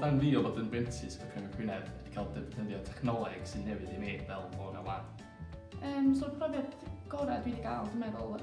Pan fi o fod yn brentis bod Cyngor Gwynedd wedi cael defnyddio technoleg sy'n newydd i mi fel bod na wan. Um, so profiad gorau dwi wedi gael, dwi'n meddwl,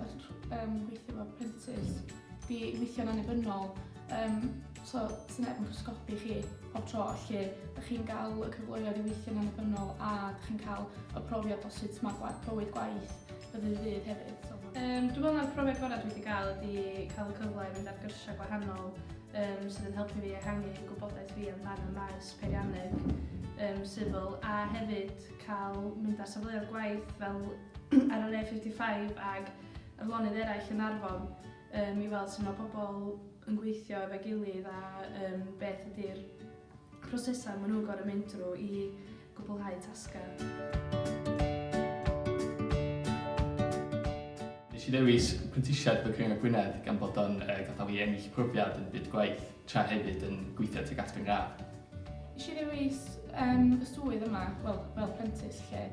um, gweithio fel prentis. 'di weithio'n annibynnol yym so 'sa neb yn pysgodi chi pob tro felly dych chi'n ga'l y cyfleoedd i weithio'n annibynnol a dych chi'n ca'l y profiad o sut ma' gwa- bywyd gwaith o ddydd i ddydd hefyd so ma' Yym dwi me'wl mai'r profiad gora' dwi 'di ga'l ydi ca'l y cyfle i fynd ar gyrsia' gwahanol yym sydd yn helpu fi ehangu gwybodaeth fi amdan y maes peirianneg yym sifil a hefyd ca'l mynd ar safleoedd gwaith fel ar yr A55 ag ar lonydd eraill yn Arfon um, i weld sut mae pobl yn gweithio efo'i gilydd a um, beth ydy'r prosesau maen nhw'n gorau mynd drwy i gwblhau tasgau. Nes i ddewis prentisiaeth y Cyngor Gwynedd gan bod o'n uh, gadael i ennill profiad yn byd gwaith. tra hefyd yn gweithio tuag at fy ngradd. Nes i ddewis yym y swydd yma, wel, fel prentis 'lly.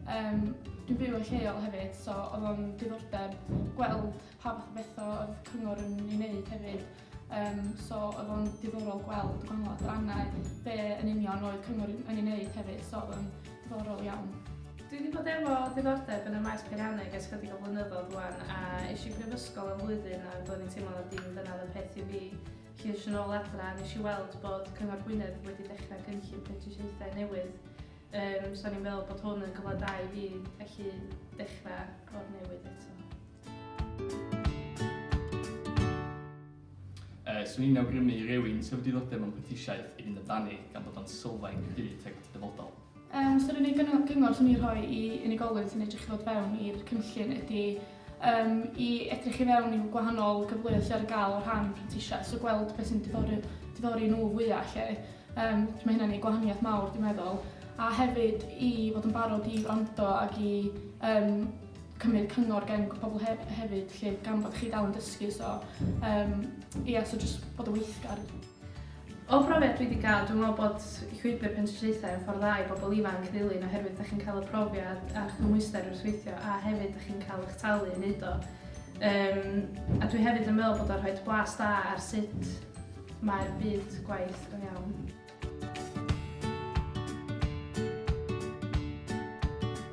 Yym, dwi'n byw yn lleol hefyd, so oedd o'n diddordeb gweld pa fath o betha oedd cyngor yn ei wneud hefyd. Yym, so oedd o'n diddorol gweld gwahanol adrannau, be' yn union oedd cyngor yn ei wneud hefyd, so oedd o'n Diddorol iawn. Dwi wedi bod efo diddordeb yn y maes peirianneg ers chydig o flynyddoedd rwan a eisiau prifysgol am flwyddyn a doedd i'n teimlo na dim dyna oedd y peth i fi. Ceis yn ôl adra, nes i weld bod Cyngor Gwynedd wedi dechrau cynllun prentisiaethau newydd. Um, so ni'n meddwl bod hwn yn gyfle da i fi felly dechrau o'r newydd eto. Yy, swn i'n awgrymu i rywun sydd efo diddordeb mewn prentisiaeth i fynd amdani gan bod o'n sylfaen cryf tuag at y dyfodol. Yym, so'r unig gyng- gyngor swn i'n rhoi i unigolyn sy'n edrych i ddod fewn i'r cynllun ydi yym i edrych i fewn i'w gwahanol gyfleoedd sy ar gael o rhan prentisiaeth, so gweld beth sy'n diddori diddori nhw fwya 'lly. Yym, so ma' hynna'n neud gwahaniaeth mawr dwi'n meddwl, a hefyd i fod yn barod i wrando ag i yym cymryd cyngor gen pobl he- hefyd 'lly gan bod chi dal yn dysgu so um, ia so jyst bod yn weithgar. O phrofiad dwi wedi cael, dwi'n meddwl bod llwybr pentrisiaethau yn ffordd dda i bobl ifanc ddilyn oherwydd da chi'n cael y profiad a'r cymhwyster wrth weithio a hefyd da chi'n cael eich talu yn neud o. Um, a dwi hefyd yn meddwl bod o'n rhoi blas da ar sut mae'r byd gwaith go iawn.